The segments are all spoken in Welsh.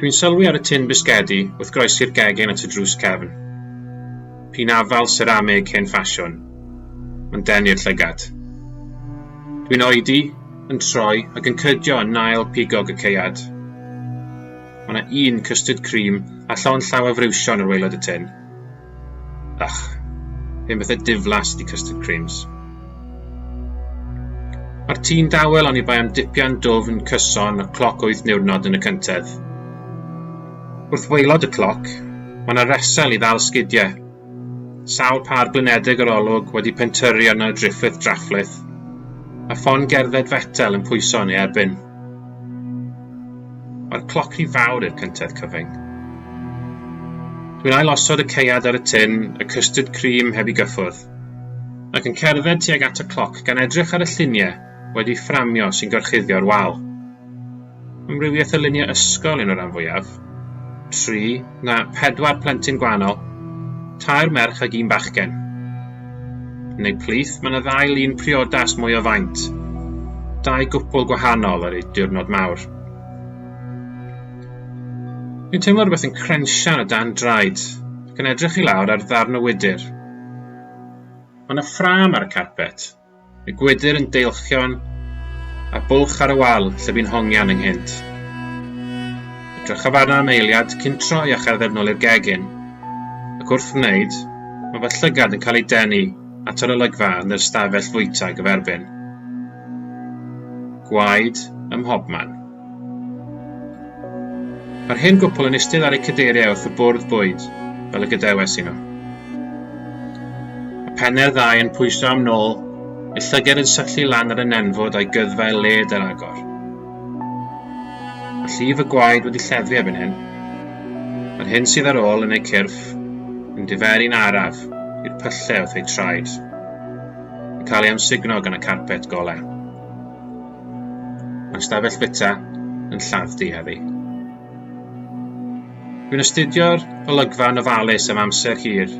dwi'n sylwi ar y tin bisgedi wrth groesi'r gegin at y drws cefn p'un afael seramig hen ffasiwn mae'n denu'r llygad dwi'n oedi yn troi ac yn cydio yn ail pigog y caead mae 'na un cystud cream a llond llaw o friwsion ar waelod y tin Ych, hen bethau diflas di custard creams. Mae'r tî'n dawel ond i bai am dipian dwf yn cyson y cloc wyth niwrnod yn y cyntedd. Wrth waelod y cloc, mae yna resel i ddal sgidiau. Sawl par blinedig yr olwg wedi pentyrru arno driffith drafflith, a ffon gerdded fetel yn pwyso yn ei erbyn. Mae'r cloc rhy fawr i'r cyntedd cyfyng. Dwi'n ailosod y ceuad ar y tin, y custard cream heb i gyffwrdd, ac yn cerdded tuag at y cloc gan edrych ar y lluniau wedi fframio sy'n gorchuddio'r wal. Amrywiaeth o luniau ysgol yn y rhan fwyaf. tri, na, pedwar plentyn gwahanol, tair merch ag un bachgen. Yn eu plith, mae yna ddau lun priodas mwy o faint. Dau gwpl gwahanol ar eu diwrnod mawr. Dwi'n teimlo rhywbeth yn crensian o dan draed, ac yn edrych i lawr ar ddarn o wydr. Mae yna ffram ar y carpet, Y gwydr yn deilchion, a bwlch ar y wal lle bu'n hongian ynghynt. Edrychaf arno am eiliad cyn troi a cherdded nôl i'r gegin, ac wrth wneud, mae fy llygad yn cael ei denu at yr olygfa yn yr stafell fwyta gyferbyn. Gwaed ym mhobman. Mae'r hen gwpl yn eistedd ar eu cadeiriau wrth y bwrdd bwyd, fel y gadewes i nhw. Y penne'r ddau yn pwyso am nôl, y llyged yn syllu lan ar y nenfwd a'i gyddfau led ar agor. Mae llif y gwaed wedi lleddfu erbyn hyn. Mae'r hyn sydd ar ôl yn eu cyrff yn diferu'n araf i'r pyllau wrth eu traed, yn cael ei amsugno gan y carpet golau. Mae'r stafell fita yn lladd diafi. Dwi'n astudio'r olygfa yn ofalus am amser hir,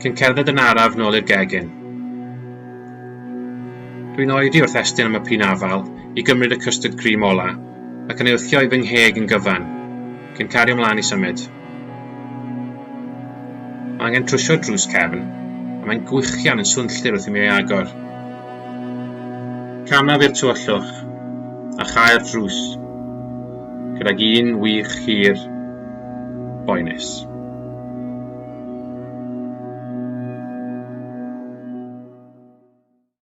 cyn cerdded yn araf nôl i'r gegin. Dwi'n oedi wrth estyn am y pin afal i gymryd y custard cream ola, ac yn ei wthio i fy ngheg yn gyfan, cyn cario ymlaen i symud. Mae angen trwsio'r drws cefn, a mae'n gwichian yn swnllyd wrth i mi ei agor. Camaf i'r tywyllwch, a chau'r drws, gydag un wych hir boenus.